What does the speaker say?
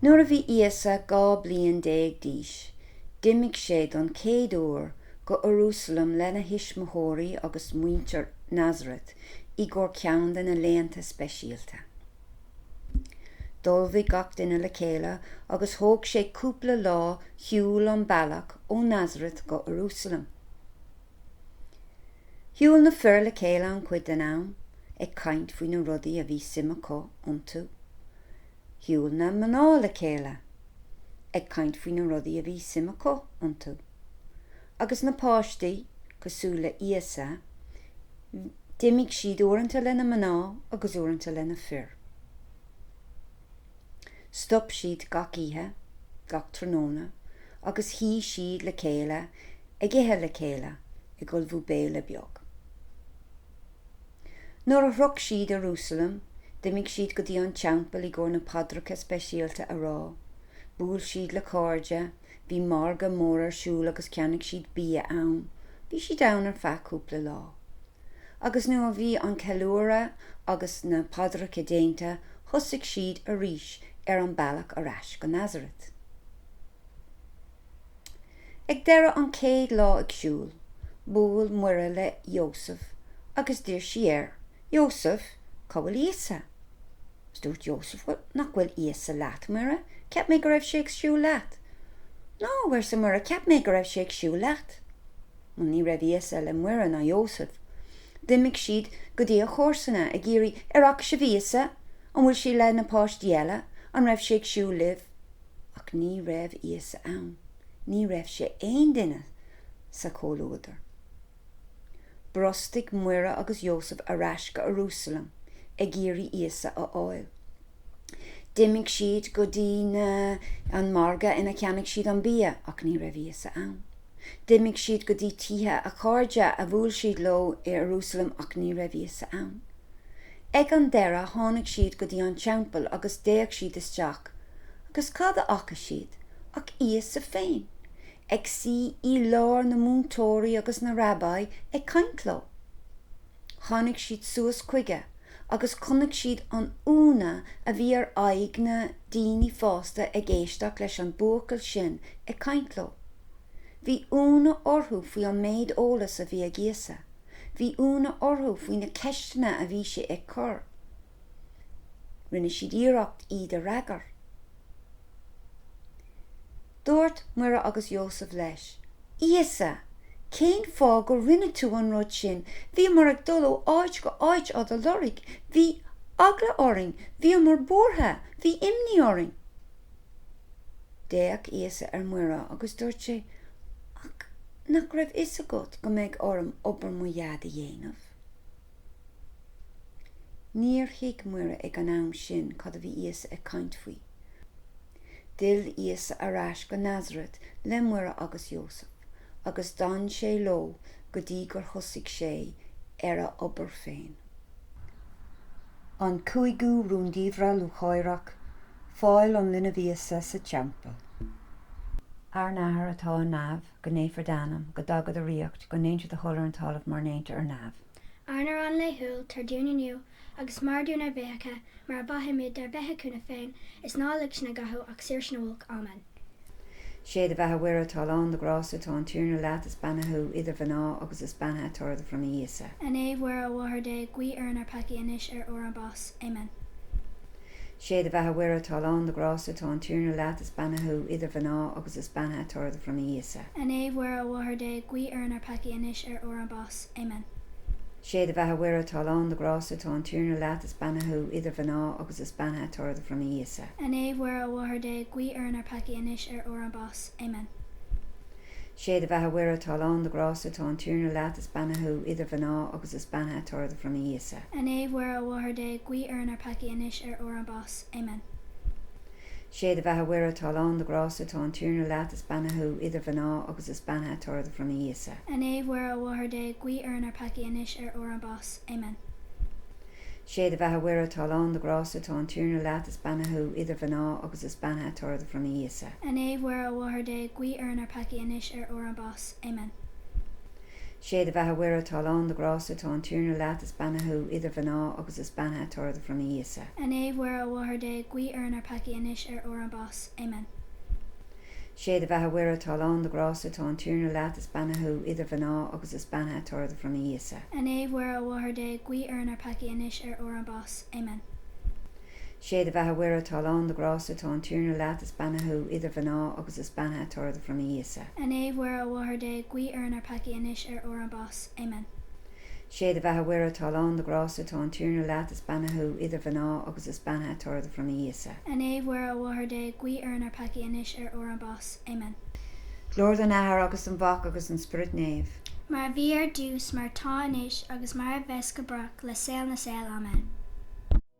Nuair a bhí Íosa 12 bliain d'aois, d'imigh sé don chéad uair go hIarúsailéim lena thuismitheoirí agus muintir Nazareth i gcomhair ceann de na laethanta speisialta. Shiúlfadh gach duine le chéile agus thóg sé cúpla lá shiúl an bealach ó Nazareth go Iarúsailéim. Shiúl na fir le chéile an-chuid den am, ag caint faoi na rudaí a bhí suim acu iontu. Shiúl na mná le chéile, ag caint faoi na rudaí a bhí suim acu iontu. Agus na páistí, cosúil le Íosa, d'imigh siad uaireanta leis na mná agus uaireanta leis na fir. Stop siad gach oíche, gach tráthnóna, agus shuigh siad le chéile ag ithe le chéile ag ullmhú béile beag. Nuair a shroich siad Iarúsailéim, d'imigh siad go dtí an teampall i gcomhair na paidreacha speisialta a rá, bhuail siad le cairde, Bhí margadh mór ar siúl agus cheannaigh siad bia ann. Bhí siad ann ar feadh cúpla lá. Agus nuair a bhí an ceiliúradh agus na paidreacha déanta, thosaigh siad arís ar an bealach ar ais go Nazareth. Ag deireadh an chéad lá ag siúl, bhuail Muire le Iósaf agus d'iarr sí air Iósaf, Cá bhfuil Íosa? Is dúirt Iósaf, Bhuel, nach bhfuil Íosa leat, Muire? Cheap mé go raibh sé ag siúl leat. No, arsa Muire, cheap mé go raibh sé ag siúl leat. Bhuel, ní raibh Íosa le Muire ná Iósaf. D'imigh siad go dtí a chomharsana, ag iarraidh, Ar fhaca sibh Íosa? An bhfuil sé le na páistí eile? An raibh sé ag siúl libh? Ach ní raibh Íosa ann. Ní raibh sé le haon duine sa chomhluadar. Bhrostaigh Muire agus Iósaf ar ais go Iarúsailéim ag iarraidh Íosa a fháil. D'imigh siad go dtí na, an margadh ina cheannaigh siad an bia ach ní raibh Íosa ann. D'imigh siad go dtí tithe a chairde a bhuail siad leo i Iarúsailéim ach ní raibh Íosa ann. Ag an deireadh tháinig siad go dtí an teampall agus d'fhéach siad isteach agus cad a fhaca siad ach Íosa féin Ag suí i lár na múinteoirí agus na rabbi ag caint leo. Tháinig siad suas chuige agus chonaic siad an ionadh a bhí ar aghaidh na daoine fásta ag éisteacht leis an buachaill sin ag caint leo. Bhí ionadh orthu faoi an méid eolas a bhí ag Íosa. Bhí ionadh orthu faoi na ceisteanna a bhí sé ag cur. Rinne siad iarracht iad a fhreagair. Dúirt Muire agus Iósaf leis, Íosa, cén fáth go rinne tú an rud sin? Bhíomar ag dul ó áit go háit á do lorg. Bhí eagla orainn. Bhíomar buartha. Bhí imní orainn. D'fhéach Íosa ar Mhuire agus dúirt sé, Ach nach raibh fhios agat go mbeidh orm obair mo Dhaid a dhéanamh? Níor thuig Muire ag an am sin cad a bhí Íosa ag caint faoi. D'fhill Íosa ar ais go Nazaret le Muire agus Iósaf agus d'fhan sé leo go dtí gur thosaigh sé ar a obair féin. An Cúigiú Rúndiamhra Lúcháireach, Fáil an Linbh Íosa sa Teampall. Ár nAthair atá i neamh. go naofar d'ainm, go dtaga do ríocht, go ndéantar do thoil ar an talamh mar ndéantar ar neamh. Ár n-arán laethúil tabhair dúinn inniu, agus maith dúinn ár bhfiacha mar a mhaithimid dár bhféichiúna féin, is ná lig sinn i gcathú ach saor sinn ó olc. Amen. Sé do bheatha Mhuire, atá lán de ghrásta, tá an Tiarna leat, is beannaithe thú idir mhná, agus is beannaithe toradh do bhroinne Íosa. A Naomh Mhuire, a Mháthair Dé, guigh orainn ár peacaí anois ar uair ár mbás. Amen. Sé do bheatha Mhuire atá lán do grásta, tá an Tiarna leat, is beannaithe thú idir mhná, agus is beannaithe toradh do bhroinne Íosa. A Naomh Mhuire, a Mháthair Dé, guigh orainn ár peacaí anois ar uair an bás. Amen. Sé do bheatha Mhuire atá lán do grásta, tá an Tiarna leat, is beannaithe thú idir mhná, agus is beannaithe toradh do bhroinne Íosa. A Naomh Mhuire, a Mháthair Dé, guigh orainn ár peacaí anois ar uair an bás. Amen. Sé do bheatha Mhuire atá lán de ghrásta tá an Tiarna leat is beannaithe thú idir mhná agus is beannaithe toradh do bhroinne Íosa. A Naomh Mhuire a Mháthair Dé guigh orainn ár peacaí anois ar uair ár mbás. Amen. Sé do bheatha Mhuire atá lán de ghrásta tá an Tiarna leat is beannaithe thú idir mhná agus is beannaithe toradh do bhroinne Íosa. A Naomh Mhuire a Mháthair Dé guigh orainn ár peacaí anois ar uair ár mbás. Amen. Sé do bheatha Mhuire atá lán de ghrásta tá an Tiarna leat, is beannaithe thú idir mhná agus is beannaithe toradh do bhroinne Íosa. A Naomh Mhuire, a Mháthair Dé, guigh orainn ár peacaí anois ar uair ár mbás. Amen. Sé do bheatha Mhuire atá lán de ghrásta tá an Tiarna leat, is beannaithe thú idir mhná agus is beannaithe toradh do bhroinne Íosa. A Naomh Mhuire, a Mháthair Dé, guigh orainn ár peacaí anois ar uair ár mbás. Amen. Sé do bheatha Mhuire atá lán de ghrásta tá an Tiarna leat is beannaithe thú idir mhná agus is beannaithe toradh do bhroinne Íosa. A Naomh Mhuire a Mháthair Dé guigh orainn ár peacaí anois ar uair ár mbás. Amen. Sé do bheatha Mhuire atá lán de ghrásta tá an Tiarna leat is beannaithe thú idir mhná agus is beannaithe toradh do bhroinne Íosa. A Naomh Mhuire a Mháthair Dé guigh orainn ár peacaí anois ar uair ár mbás. Amen. Sé do bheatha a Mhuire atá lán de ghrásta tá an Tiarna leat is beannaithe thú idir mhná agus is beannaithe toradh do bhroinne Íosa. A Naomh Mhuire a Mháthair Dé guigh orainn na peacaigh anois ar uair ár mbáis. Amen. Glóir don Athair agus don Mhac agus don Spioraid Naomh. Mar a bhí ar dtús mar atá anois agus mar a bheas go brách le saol na saol. Amen.